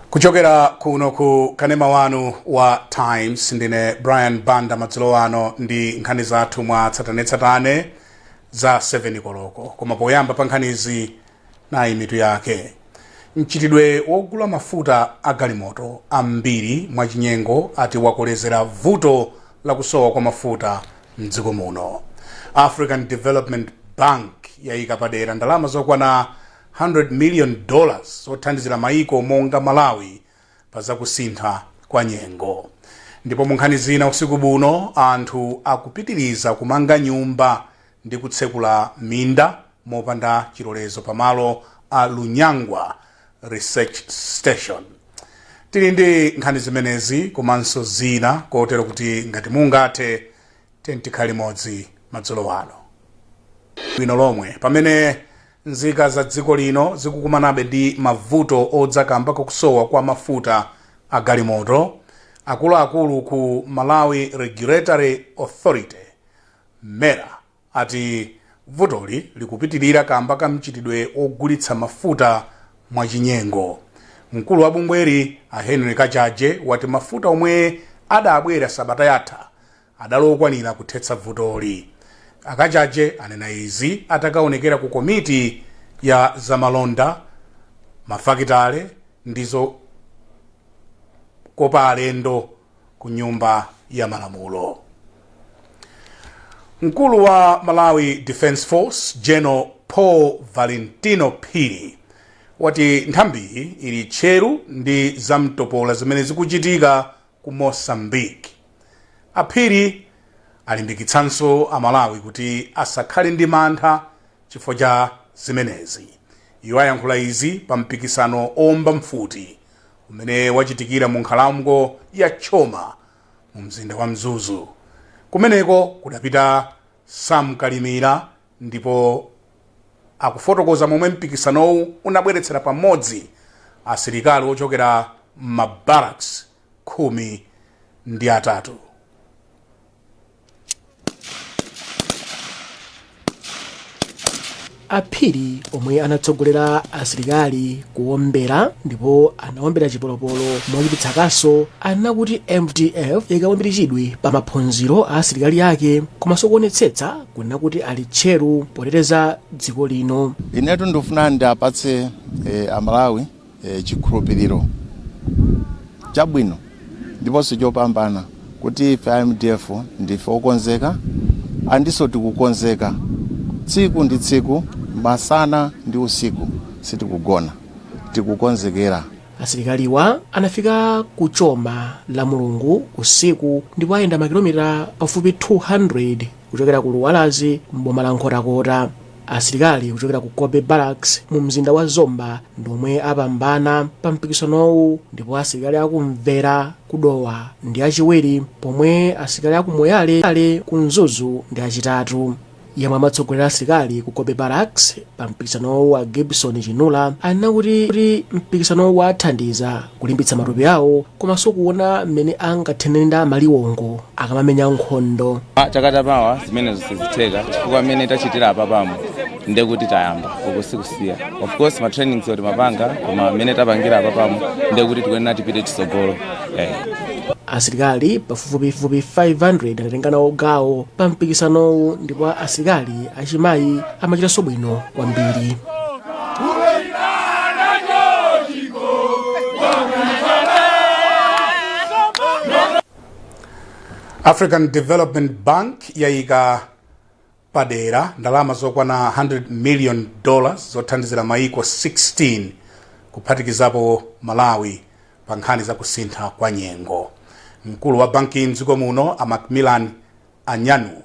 kuchokera kuno ku kanema wanu wa times ndine brian banda madzulo ano ndi nkhani zathu mwa tsatanetsatane za 7 koloko koma poyamba pa nkhanizi nayi mitu yake mchitidwe wogula mafuta a galimoto ambiri mwachinyengo ati wakolezera vuto la kusowa kwa mafuta mdziko muno african development bank yayika padera ndalama zokwana 100 million dollars zothandizira maiko monga Malawi pa zakusintha kwa nyengo. Ndipo mu nkhani zina usiku buno anthu akupitiliza kumanga nyumba ndi kutsekula minda mopanda chilolezo pa malo a Lunyangwa Research Station. Tili ndi nkhani zimenezi komanso zina kotero kuti ngati mungathe tendi tikhale limodzi madzulo ano bwino lomwe pamene Nzika za dziko lino zikukumanabe ndi mavuto odza kamba kakusowa kwa mafuta a galimoto. Akuluakulu ku Malawi Regulatory Authority, mera, ati vutoli likupitilira kamba ka mchitidwe wogulitsa mafuta mwa chinyengo. Mkulu wa bungweli a Henry Kachaje wati mafuta omwe adabwera sabata yatha adali okwanira kuthetsa vutoli. A Kachaje anena izi atakaonekera ku komiti ya za malonda, mafakitale ndi zokopa alendo ku Nyumba ya Malamulo. Mkulu wa Malawi Defence Force, General Paul Valentino Phiri, wati nthambiyi ili tcheru ndi zamtopola zimene zikuchitika ku Mozambique. A Phiri alimbikitsanso a Malawi kuti asakhale ndi mantha chifukwa cha zimenezi. Iwo ayankhula izi pa mpikisano owomba mfuti umene wachitikira mu nkhalango ya Choma mu mzinda wa Mzuzu. Kumeneko kudapita Sam Kalimira ndipo akufotokoza momwe mpikisanowu unabweretsera pamodzi asilikali ochokera m'ma barracks khumi ndi atatu. a phiri omwe anatsogolera asilikali kuwombera ndipo anawombera chipolopolo mochititsa kaso anena kuti mdf ikaika mbiri chidwi pa maphunziro a asilikali ake komanso kuonetsetsa kunena kuti ali tcheru poteteza dziko lino. Inetu ndikufuna ndiapatse eh, Amalawi eh, chikhulupiriro chabwino ndiponso chopambana kuti ife a MDF ndife okonzeka ndiponso tikukonzeka tsiku ndi tsiku masana ndi usiku sitikugona tikukonzekera asilikaliwa anafika ku choma lamulungu usiku ndipo ayenda makilomita pafupi 200 kuchokera ku dwambazi m'boma la nkhotakota asilikali kuchokera ku cobbe barracks mu mzinda wa zomba ndi omwe apambana pa mpikisanowu ndipo asilikali aku mvera ku dowa ndi achiwiri pomwe asilikali aku moyale ku mzuzu ndi achitatu yemwe amatsogolera asilikali ku Cobbe Barracks pa mpikisanowu a Gibson Chinula anena kuti kuti mpikisanowu wathandiza kulimbitsa matupi awo komanso kuona mmene angathanirane ndi amaliwongo akamamenya nkhondo Ah, chaka chamawa zimenezo sizitheka chifukwa mmene tachitira apapamo nde kuti tayamba uku sikusiya of course ma training timapanga koma mmene tapangira apapamo nde kuti tikuyenera tipite chitsogolo asilikali pafupifupi 500 anatenga nawo gawo pa mpikisanowu ndipo asilikali achimayi amachitanso bwino kwambiri african development bank yayika padera ndalama zokwana 100 million dollars zothandizira maiko 16 kuphatikizapo malawi pa nkhani za kusintha kwa nyengo mkulu wa bankiyi mdziko muno a macmillan anyanwu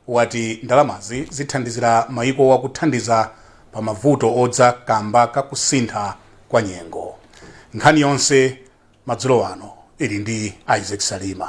wati ndalamazi zithandizira maikowa kuthandiza pa mavuto odza kamba ka kusintha kwa nyengo nkhani yonse madzulo ano ili ndi isaac salima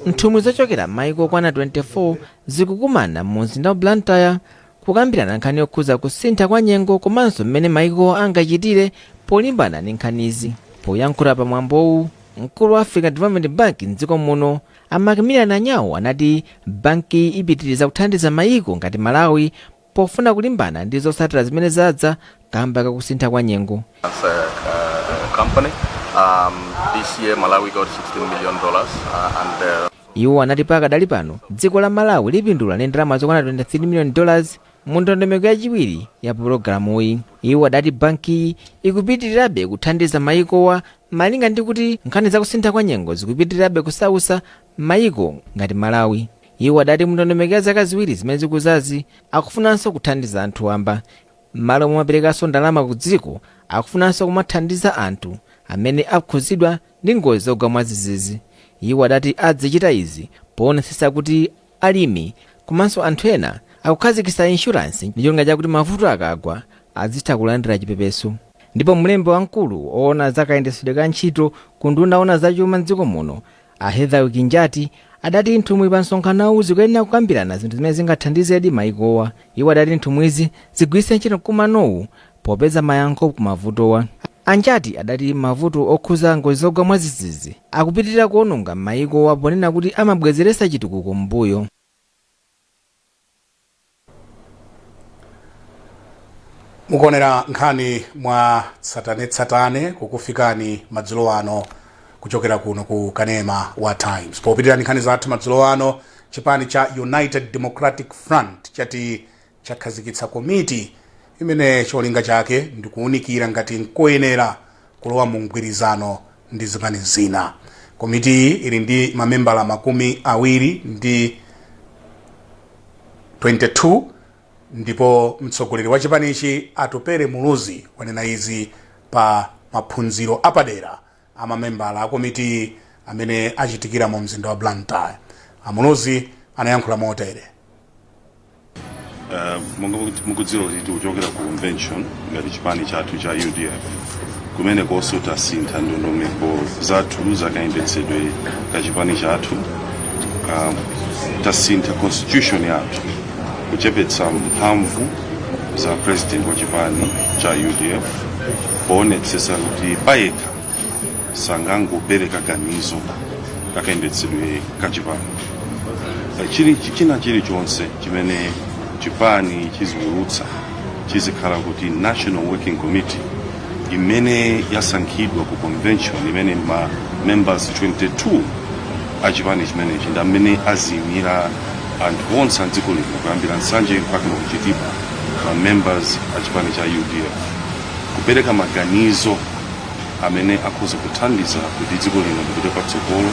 nthumwi zochokera m'mayiko okwana 24 zikukumana mu mzinda wa blantyre kukambirana nkhani yokhudza kusintha kwa nyengo komanso mmene mayiko angachitire polimbana ndi nkhanizi poyankhula pa mwambowu mkulu wa africa development bank mdziko muno a macmillan anyanwu anati bankiyi ipitiriza kuthandiza mayiko ngati malawi pofuna kulimbana ndi zotsatira zimene zadza kamba kakusintha kwa nyengo. As a uh, company, um, this year Malawi got 16 million dollars uh, and uh, iwo anati pakadali pano dziko la malawi lipindula ndi ndalama zokwana 23 million dollars mu ndondomeko yachiwiri ya pulogalamuyi iwo adati bankiyi ikupitirirabe kuthandiza mayikowa malinga ndi kuti nkhani zakusintha kwa nyengo zikupitirirabe kusausa mayiko ngati malawi Iwo adati mu ndondomeko ya zaka ziwiri zimene zikudzazi akufunanso kuthandiza anthu wamba m'malo momaperekanso ndalama ku dziko akufunanso kumathandiza anthu amene akhudzidwa ndi ngozi zogwa mwadzidzidzi. Iwo adati adzichita izi poonetsetsa kuti alimi komanso anthu ena akukhazikitsa inshuransi ndi cholinga chakuti mavuto akagwa adzitha kulandira chipepeso. Ndipo mlembi wamkulu oona za kayendetsedwe ka ntchito ku unduna oona za chuma m'dziko muno A Hetherwick Njati adati nthumwi pa msonkhanowu zikuyenera kukambirana zinthu zimene zingathandizedi maikowa. Iwo adati nthumwizi zigwiritse ntchito mkumanowu popeza mayankho ku mavutowa. A Njati adati mavuto okhuza ngozi zogwa mwadzidzidzi akupitilira kuononga maikowa ponena kuti amabwezeretsa chitukuko m'mbuyo. mukuonera nkhani mwa tsatanetsatane kukufikani madzulo ano kuchokera kuno ku kanema wa times popitirira ndi nkhani zathu madzulo ano chipani cha united democratic front chati chakhazikitsa komiti imene cholinga chake ndi kuwunikira ngati nkoyenera kulowa mu mgwirizano ndi zipani zina. Komitiyi ili ndi mamembala makumi awiri ndi 22 ndipo mtsogoleri wa chipanichi Atupele Muluzi wanena izi pa maphunziro apadera a mamembala a komitiyi amene achitikira mu mzinda wa Blantyre. A Muluzi anayankhula motere. Eh, monga muku- mukudziwa kuti tikuchokera ku convention ngati chipani chathu cha udf kumenekonso tasintha ndondomeko zathu zakayendetsedwe ka chipani chathu Ah, tasintha constitution yathu kuchepetsa mphamvu za president wa chipani cha udf poonetsetsa kuti payekha sangangopereka ganizo kakayendetsedwe ka chipani Eh, chili china chilichonse chimene chipani chiziwulutsa chizikhala kuti national working committee imene yasankhidwa ku convention imene ma members 22 a chipani chimenechi ndi amene aziyimira anthu onse a dziko lino kuyambira nsanje mpakana ku chitipa ma members a chipani cha udf kupereka maganizo amene akhoza kuthandiza kuti dziko lino lipite patsogolo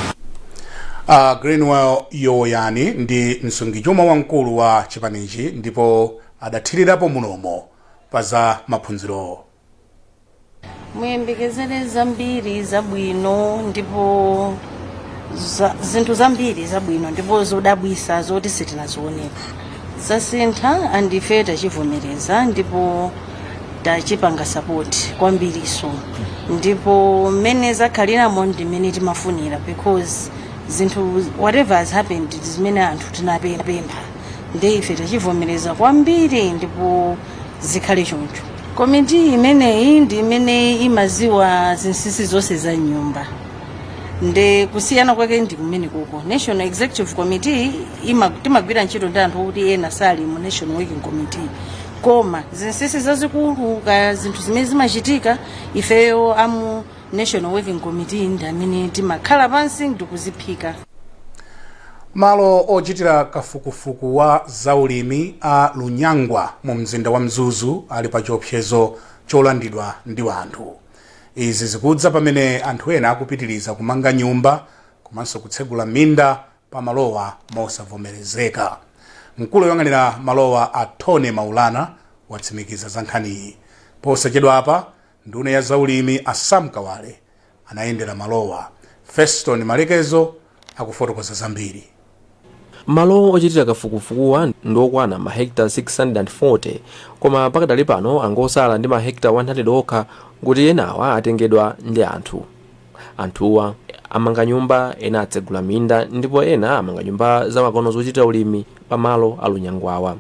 a greenwell yowoyani ndi msungichuma wamkulu wa chipanichi ndipo adathirirapo mlomo pa za maphunzirowo. muyembekezere zambiri zabwino ndipo zinthu zambiri zabwino ndipo zodabwisa zoti sitinazionepo zasintha andife tachivomereza ndipo tachipanga sapoti kwambiriso ndipo mmene zakhaliramo ndi mmene timafunira because zinthu whatever has happened ndi zimene anthu tinapempha nde ife tachivomereza kwambiri ndipo zikhale choncho komiti imeneyi ndi imene imaziwa zinsinsi zonse za nyumba nde kusiyana kwake ndi kumene kuko national executive committee timagwira ntchito ndi anthu okuti ena sali mu national working committee koma zinsinsi zazikulu ka zinthu zimene zimachitika ifeyo amu national working committee ndi amene timakhala pansi ndikuziphika malo ochitira kafukufuku wa zaulimi a lunyangwa mu mzinda wa mzuzu ali pa chiopsezo cholandidwa ndi wanthu izi zikudza pamene anthu ena akupitiriza kumanga nyumba komanso kutsegula minda pa malowa mosavomerezeka mkulu woyang'anira malowa a tony maulana watsimikiza za nkhaniyi posachedwapa Nduna ya zaulimi a Sam Kawale anayendera malowa. Feston Malekezo akufotokoza zambiri. Malo ochitira kafukufukuwa ndi okwana ma hectare 640 koma pakadali pano angosala ndi ma hectare 100 okha kuti enawa atengedwa ndi anthu. Anthuwa amanga nyumba, ena atsegula minda ndipo ena amanga nyumba zamakono zochitira ulimi pa malo a Lunyangwawa.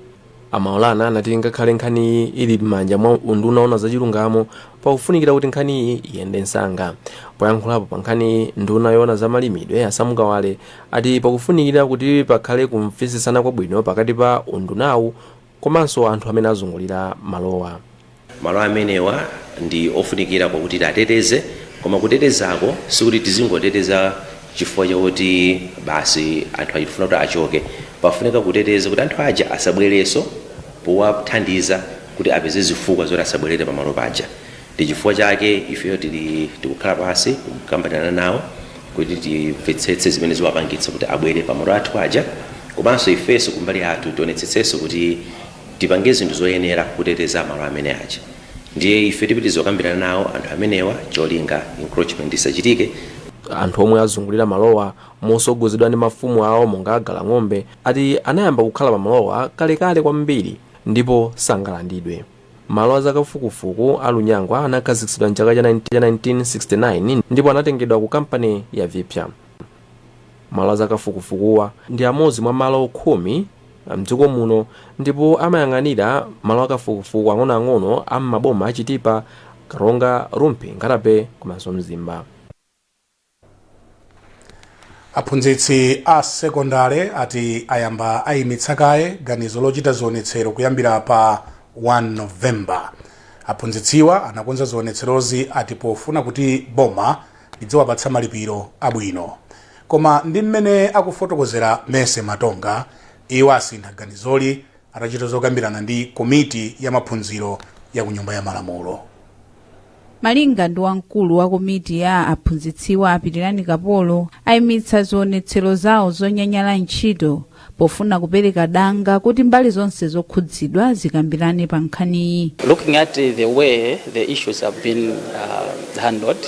a maulana anati ngakhale nkhaniyi ili m'manja mwa unduna woona zachilungamo pakufunikira kuti nkhaniyi iyende msanga poyankhulapo pa nkhaniyi nduna yoona za malimidwe a sam kawale ati pakufunikira kuti pakhale kumvetsetsana kwabwino pakati pa undunawu komanso anthu amene azungulira malowa Malo amenewa ndi ofunikira kwakuti tiateteze koma kutetezako sikuti tizingoteteza chifukwa chakuti basi anthu tikufuna kuti achoke. Pafunika kuteteza kuti anthu aja asabwerenso powathandiza kuti apeze zifukwa zoti asabwerere pamalo paja. Ndi chifukwa chake ifeyo tikukhala pansi kukambirana nawo kuti timvetsetse zimene ziwapangitsa kuti abwere pamalo athu aja komanso ifenso kumbali yathu tionetsetsenso kuti tipange zinthu zoyenera kuteteza malo amene aja ndiye ife tipitiriza kukambirana nawo anthu amenewa cholinga encroachment isachitike anthu omwe azungulira malowa mosogozedwa ndi mafumu awo monga a galang'ombe ati anayamba kukhala pa malowa kalekale kwambiri ndipo sangalandidwe malo a zakafukufuku a lunyangwa anakhazikitsidwa mchaka cha 1969 ndipo anatengedwa ku kampani ya vipya Malo azakafukufukuwa ndi amodzi mwa malo khumi mdziko muno ndipo amayang'anira malo akafukufuku ang'onoang'ono a m'maboma a Chitipa, Karonga, Rumphi, Nkhata-Bay komanso Mzimba. Aphunzitsi a sekondale ati ayamba ayimitsa kaye ganizo lochita zionetsero kuyambira pa 1 November. Aphunzitsiwa anakonza zionetserozi ati pofuna kuti boma lidziwapatsa malipiro abwino. Koma ndi mmene akufotokozera Mercy Matonga, iwo asintha ganizoli atachita zokambirana ndi komiti ya maphunziro ya ku Nyumba ya Malamulo. Malinga ndi wamkulu wa komiti ya aphunzitsiwa a Pitirani Kapolo, aimitsa zionetsero zawo zonyanyala ntchito pofuna kupereka danga kuti mbali zonse zokhudzidwa zikambirane pa nkhaniyi. Looking at uh, the way the issues have been uh, handled,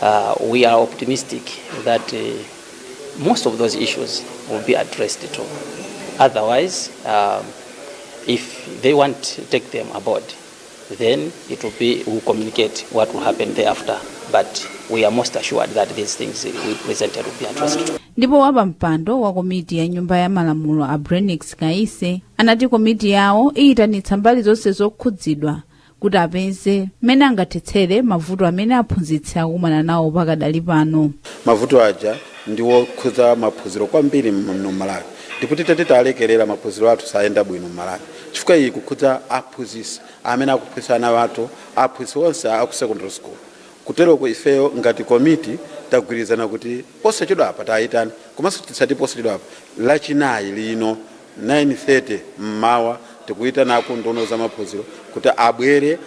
uh, we are optimistic that uh, most of those issues will be addressed too. Otherwise, um, if they want to take them aboard, then it will be we will communicate what will happen thereafter but we are most assured that these things we presented will be addressed ndipo wapampando wa komiti ya nyumba ya malamulo a brainax kaise anati komiti yawo iyitanitsa mbali zonse zokhudzidwa kuti apeze mmene angathetsere mavuto amene aphunzitsi akumana nawo pakadali pano mavuto aja ndi wokhudza maphunziro kwambiri muno malawi ndipo tita titalekerera maphunziro athu sayenda bwino m'malawi chifukwa iyi ikukhudza aphunzitsi amene akuphunzitsa ana athu, aphunzitsi onse a ku secondary school. Kuteroko ifeyo ngati komiti tagwirizana kuti posachedwapa tiwayitane komanso tisati posachedwapa, Lachinayi lino 9:30 m'mawa tikuyitanako nduna ya zamaphunziro kuti abwere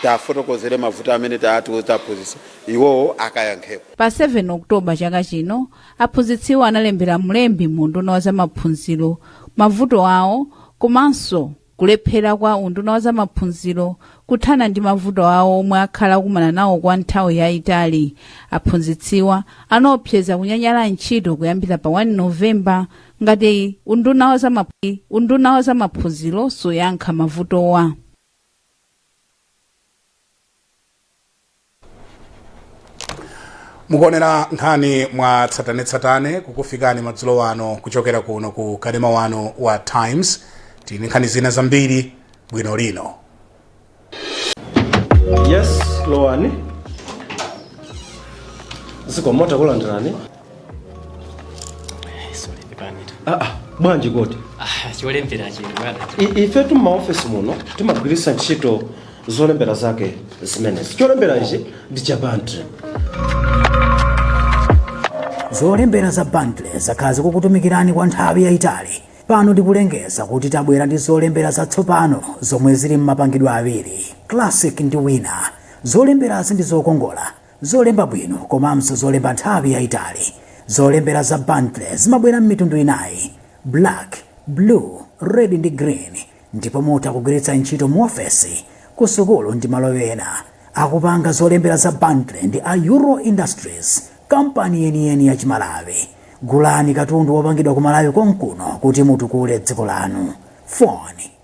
tiwafotokozere mavuto amene atiuza aphunzitsi iwowo akayankhepo. Pa 7 October chaka chino, Aphunzitsiwa analembera mlembi mu unduna wa zamaphunziro mavuto awo komanso kulephera kwa unduna wa zamaphunziro kuthana ndi mavuto awo omwe akhala akumana nawo kwa nthawi yayitali. Aphunzitsiwa anaopseza kunyanyala ntchito kuyambira pa 1 November ngati unduna wa zamaphunziro suyankha mavutowa. mukuonera nkhani mwa tsatanetsatane kukufikani madzulo ano kuchokera kuno ku kanema wanu wa times tili ndi nkhani zina zambiri bwino lino yes lowani zikomo takulandirani aa bwanji kodi cholembera chili bwana I- ife tu maofesi muno timagwiritsa ntchito zolembera zake zimenezi cholembera ichi ndi cha bantle zolembera za bantle zakhala zikukutumikirani kwa nthawi yayitali pano tikulengeza kuti tabwera ndi zolembera zatsopano zomwe zili m'mapangidwe awiri classic ndi winner zolemberazi ndi zokongola Zolemba bwino komanso zolemba nthawi yaitali. Zolembera za Bantley zimabwera m'mitundu inayi, black, blue, red ndi green ndipo mutha kugwiritsa ntchito muofesi, kusukulu ndi malo ena. Akupanga zolembera za Bantley ndi a Euro Industries, kampani yeniyeni ya Chimalawi. Gulani katundu wopangidwa ku Malawi konkuno kuti mutukule dziko lanu. Phone.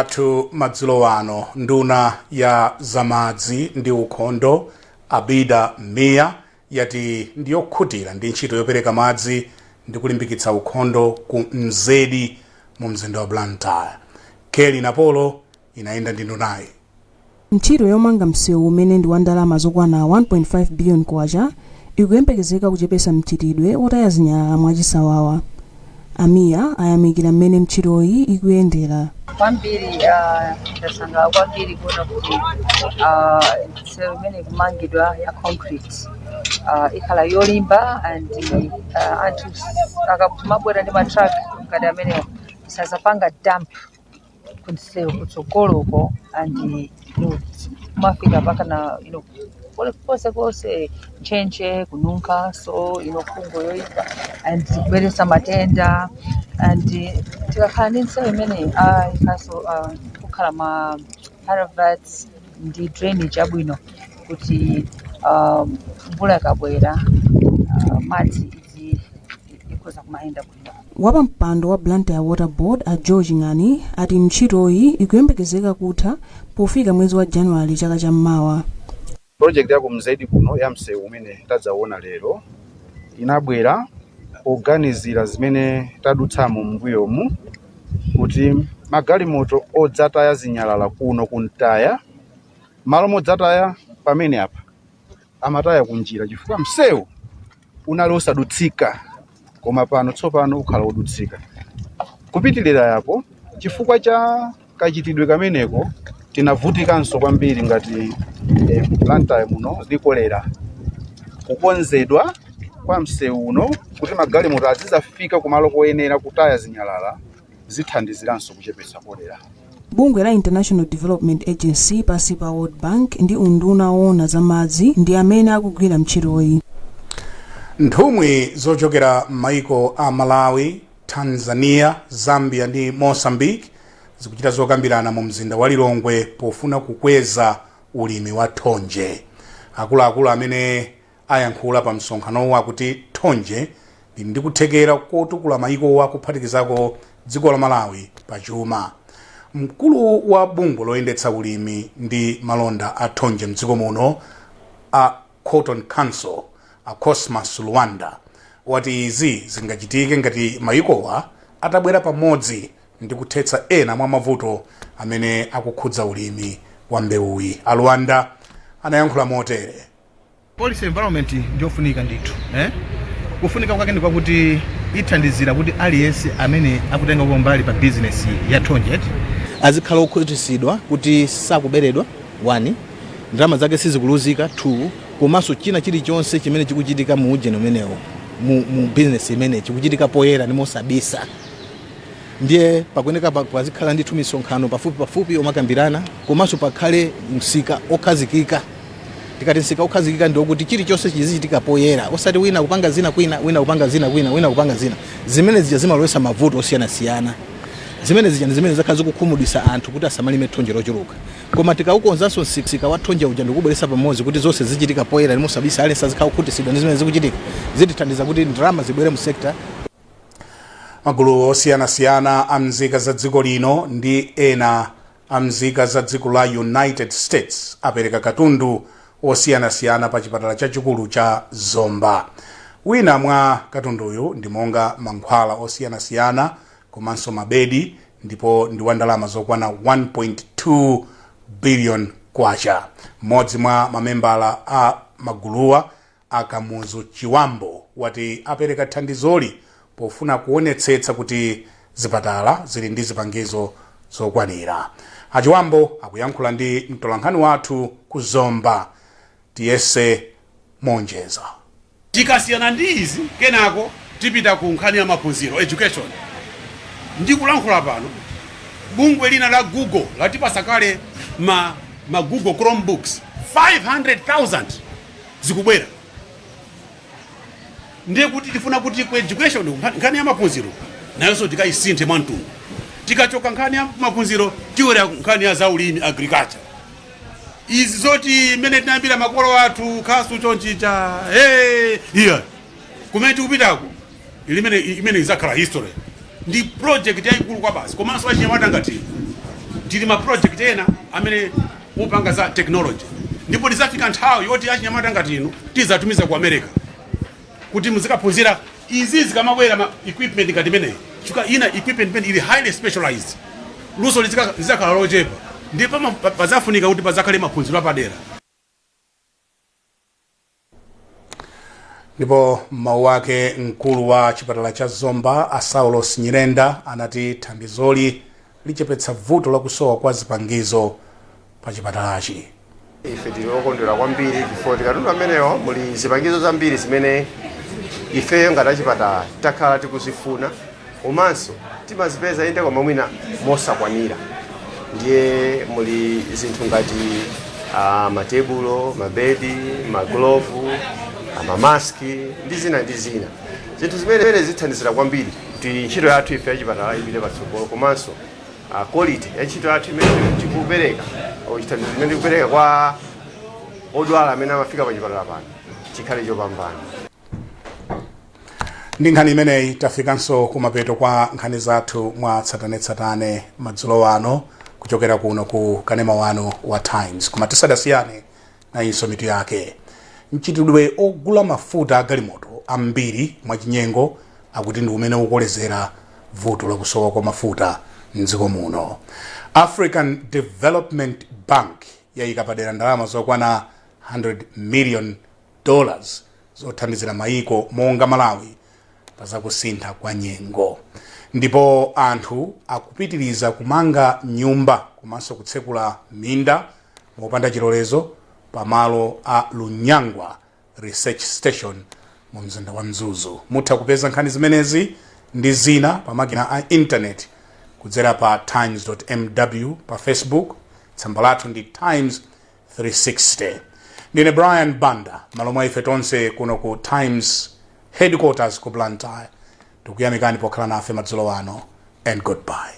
Athu madzulo ano nduna ya za madzi ndi ukhondo Abida Mia yati ndi yokhutira ndi ntchito yopereka madzi ndi kulimbikitsa ukhondo ku Mzedi mu mzinda wa Blantyre. Kelly Napolo inayenda ndi ndunayi. Ntchito yomanga msewu umene ndi wa ndalama zokwana 1.5 billion kwacha ikuyembekezeka kuchepesa mchitidwe otaya zinyalala mwa chisawawa. A Mia ayamikira mmene mtchitoyi ikuyendera. Kwambiri ndasangalala kwambiri kuona kuti msewu imene ikumangidwa ya concrete ikhala yolimba and anthu akamabwera ndi ma truck ngati amenewo sazapanga dump. kunsewu kutsogoloko and kumafika mpaka na you know, pole- konse konse ntchentche kununkha so you know, fungo yoipa and ikubweretsa matenda and eh, tikakhala ndi nsewu imeneyi ah, ikaso ah, kukhala ma culverts ndi drainage abwino kuti ah, mvula ikabwera ah, madzi izi ikhoza kumayenda Wapampando wa Blantyre Water Board a Joe Ching'ani ati ntchitoyi ikuyembekezeka kutha pofika mwezi wa January chaka cha mmawa. Project ya ku Mzedi kuno ya msewu umene tadzawona lero inabwera poganizira zimene tadutsamo m'mbuyomu kuti magalimoto odzataya zinyalala kuno kumtaya malo modzataya pamene apa amataya kunjira chifukwa msewu unali osadutsika koma pano tsopano ukhala wodutsika kupitirira yapo chifukwa cha kachitidwe kameneko tinavutikanso kwambiri ngati eh, Blantyre muno ndi kolera kukonzedwa kwa msewu uno kuti magalimoto azizafika kumalo koyenera kutaya zinyalala zithandiziranso kuchepetsa kolera. Bungwe la International Development Agency pansi pa World Bank ndi unduna woona za madzi ndi amene akugwira mtchitoyi. Nthumwi zochokera m'maiko a Malawi, Tanzania, Zambia ndi Mozambique zikuchita zokambirana mu mzinda wa Lilongwe pofuna kukweza ulimi wa thonje. Akuluakulu amene. ayankhula pa msonkhanowo akuti thonje lili ndi kuthekera kotukula mayikowa kuphatikizako dziko la Malawi pa chuma. Mkulu wa bungwe loyendetsa ulimi ndi malonda a thonje mdziko muno a Cotton Council a Cosmas Luwanda wati izi zingachitike ngati mayikowa atabwera pamodzi ndi kuthetsa ena mwa mavuto amene akukhudza ulimi wa mbewuyi. A Luwanda anayankhula motere. Policy environment ndiyofunika ndithu eh? Kufunika kwake ndi kwakuti ithandizira kuti aliyense amene akutengako mbali pa business ya thonje eti, azikhala okhutitsidwa kuti sakuberedwa 1 ndalama zake sizikuluzika 2 komanso china chilichonse chimene chikuchitika mu ujeni umenewo mu, mu business imene chikuchitika poyera ndi mosabisa ndiye pakuyeneka pa- pazikhala ndithu misonkhano pafupi pafupi omakambirana komanso pakhale msika okhazikika Tikati msika wokhazikika ndi wokuti chilichonse chizichitika poyera osati wina kupanga zina kwina, wina kupanga zina kwina, wina kupanga zina. Zimene zija zimalowesa mavuto osiyanasiyana. Zimene zija ndi zimene zakhala zikukhumudwisa anthu kuti asamalime thonje lochuluka. Koma tikaukonzanso msika wa thonje uja ndi kuubweretsa pamodzi kuti zonse zizichitika poyera ndi mosabisa, aliyense azikhala wokhutitsidwa ndi zimene zikuchitika, zitithandiza kuti ndalama zibwere mu sector. Magulu osiyanasiyana a mzika za dziko lino ndi ena. a mzika za dziko la United States apereka katundu osiyanasiyana pa chipatala chachikulu cha Zomba. Wina mwa katunduyu ndi monga mankhwala osiyanasiyana komanso mabedi ndipo ndi wa ndalama zokwana 1.2 billion kwacha. Mmodzi mwa mamembala a maguluwa A Kamuzu Chiwambo wati apereka thandizoli pofuna kuonetsetsa kuti zipatala zili ndi zipangizo zokwanira. A Chiwambo akuyankhula ndi mtolankhani wathu ku Zomba, Tiyese Monjeza. Tikasiyana ndi izi kenako tipita ku nkhani ya maphunziro, education. Ndikulankhula pano bungwe lina la Google latipasa kale ma ma Google Chromebooks 500,000. zikubwera ndiye kuti tifuna kuti ku education nkha- nkhani ya maphunziro nayonso tikayisinthe mwa mtundu tikachoka nkhani ya maphunziro tibwera nkhani ya zaulimi agriculture izi zoti mmene tinayambira makolo athu khasu chonchija hey, iya kumene tikupitako imene imene izakhala history ndi project yayikulu kwabasi komanso achinyamata ngati inu tili ma project ena amene mupange za technology ndipo izafika nthawi yoti achinyamata ngati inu tizatumiza ku america kuti muzikaphunzira izi zikamabwera ma equipment ngati imeneyi chifukwa ina equipment imene ili highly specialized luso lizika- lizakhala lochepa ndipo pama- pa- pazafunika kuti pazakhale maphunziro apadera ndipo m'mawu wake mkulu wa chipatala cha zomba a saulos nyirenda anati thandizoli lichepetsa vuto lakusowa kwa zipangizo pa chipatalachi ife tili okondwera kwambiri chifukwa mukatundu ameneyo muli zipangizo zambiri zimene ifeyo ngati achipatala takhala tikuzifuna komanso timazipeza inde koma mwina mosakwanira ndiye muli zinthu ngati uh, matebulo mabedi maglovu mamaski ndi zina ndi zina zinthu zimene zithandizira kwambiri kuti ntchito yathu ife yachipatala ipite patsogolo komanso uh, quality ya ntchito yathu imene tikupereka au chithandizo chimene tikupereka kwa odwala amene amafika pachipatala pano chikhale chopambana ndi nkhani imeneyi tafikanso kumapeto kwa nkhani zathu mwa tsatanetsatane madzulo ano kuchokera kuno ku kanema wanu wa times koma tisadasiyane nayinso mitu yake mchitidwe ogula mafuta a galimoto ambiri mwachinyengo akuti ndi umene ukolezera vuto lakusowa kwa mafuta mdziko muno african development bank yayika padera ndalama zokwana 100 million dollars zothandizira mayiko monga Malawi pa zakusintha kwa nyengo. Ndipo anthu akupitiriza kumanga nyumba komanso kutsekula minda mopanda chilolezo pa malo a Lunyangwa Research Station mu mzinda wa Mzuzu. Mutha kupeza nkhani zimenezi ndi zina pa makina a intaneti kudzera pa times.mw pa Facebook. Tsamba lathu ndi times 360 ndine brian banda m'malo mwa ife tonse kuno ku times headquarters ku blantyre tikuyamikani pokhala nafe madzulo ano and goodbye